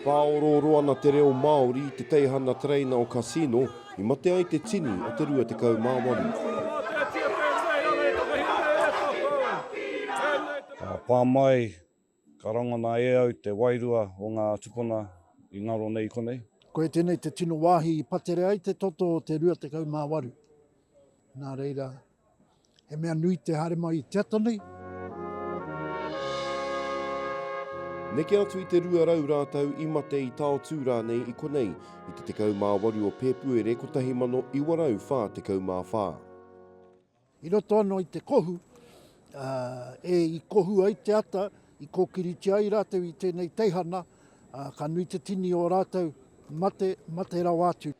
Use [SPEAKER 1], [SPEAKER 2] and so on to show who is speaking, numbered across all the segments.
[SPEAKER 1] Whāorooro ana te reo Māori i te teihana tereina o Casino i mate ai te tini o te 28. Ka
[SPEAKER 2] pā mai Ka rangona e au te wairua o ngā tupuna i ngaro nei i konei. Koe tēnei te tino
[SPEAKER 3] wāhi i patere ai te toto o te 28. Nā reira, he mea nui te haere mai i te ata nei.
[SPEAKER 1] Neke atu i te 200 rātou i mate i taotū rānei i konei i te 18 o Pēpuere 1944.
[SPEAKER 3] I roto anō i te kohu, ā, e i kohu ai te ata, i kōkiritia ai rātou i tēnei teihana, ā, ka nui te tini o rātou mate, mate rawa atu.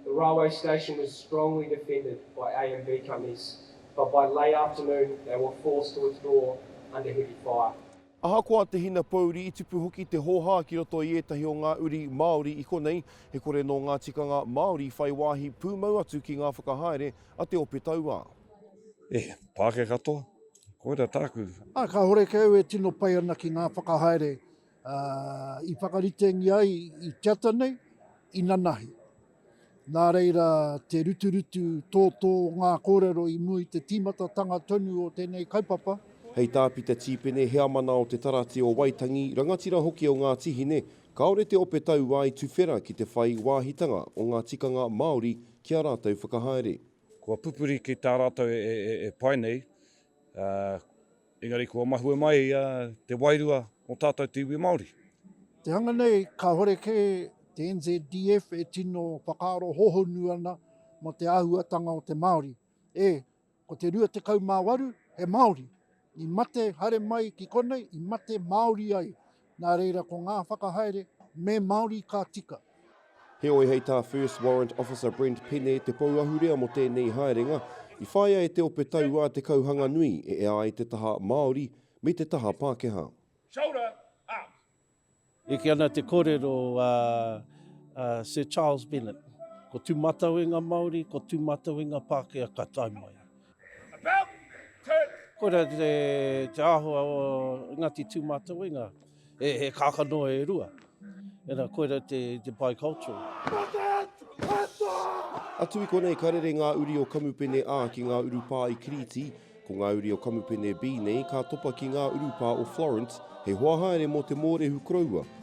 [SPEAKER 3] The railway
[SPEAKER 4] station was strongly defended by AMB companies, but by late afternoon they were forced to withdraw under heavy fire. Ahakoa te
[SPEAKER 1] hinapōuri, i tupu hoki te hōhā ki roto i ētahi o ngā uri Māori i konei, he kore nō ngā tikanga Māori whai wāhi pūmau atu ki ngā whakahaere a te ope tauā. Eh,
[SPEAKER 2] Pākehā katoa? Koira tāku. Ā, kāore kē au
[SPEAKER 3] e tino pai ana ki ngā whakahaere i whakaritengia ai i te ata nei, inanahi. Nā reira, te ruturutu tōtō ngā kōrero i mua i te tīmatatanga tonu o tēnei kaupapa. Hei tā Pita
[SPEAKER 1] Tīpene, heamana o Te Tarati o Waitangi, rangatira hoki o Ngāti Hine, kāore te ope tauā i tuwhera ki te whai wāhitanga o ngā tikanga Māori ki ā rātou whakahaere. Kua pupuri
[SPEAKER 2] ki tā rātou e pai nei, ā. Engari kua mahue mai te wairua o tātou te iwi Māori. Te anga nei,
[SPEAKER 3] kāhore kē te NZDF e tino whakaaro hohonu ana mō te āhuatanga o te Māori. E, ko te 28 he Māori i mate haere mai ki konei, i mate Māori ai, Nā reira ko ngā whakahaere me Māori ka tika. Heoi hei
[SPEAKER 1] tā First Warrant Officer Brent Pene te pou ahurea mō tēnei haerenga, i whāia e te ope tauā te kauhanga nui e ea ai te taha Māori me te taha Pākehā.
[SPEAKER 5] Eke
[SPEAKER 6] ana te kōrero a Sir Charles Bennett, ko tū mātau e ngā Māori, ko tū mātau e ngā Pākehā ka tae mai.
[SPEAKER 5] Koira
[SPEAKER 6] te āhua o Ngāti Tūmatauenga, he kākano e rua, ena koira te bi-cultural.
[SPEAKER 1] Atu i konei ka rere ngā uri o Kamupene A ki ngā urupā i Kirīti, ko ngā uri o Kamupene B nei ka topa ki ngā urupā o Florence, he hoa haere mō te mōrehu koroua,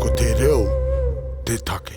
[SPEAKER 7] Ko te reo te take.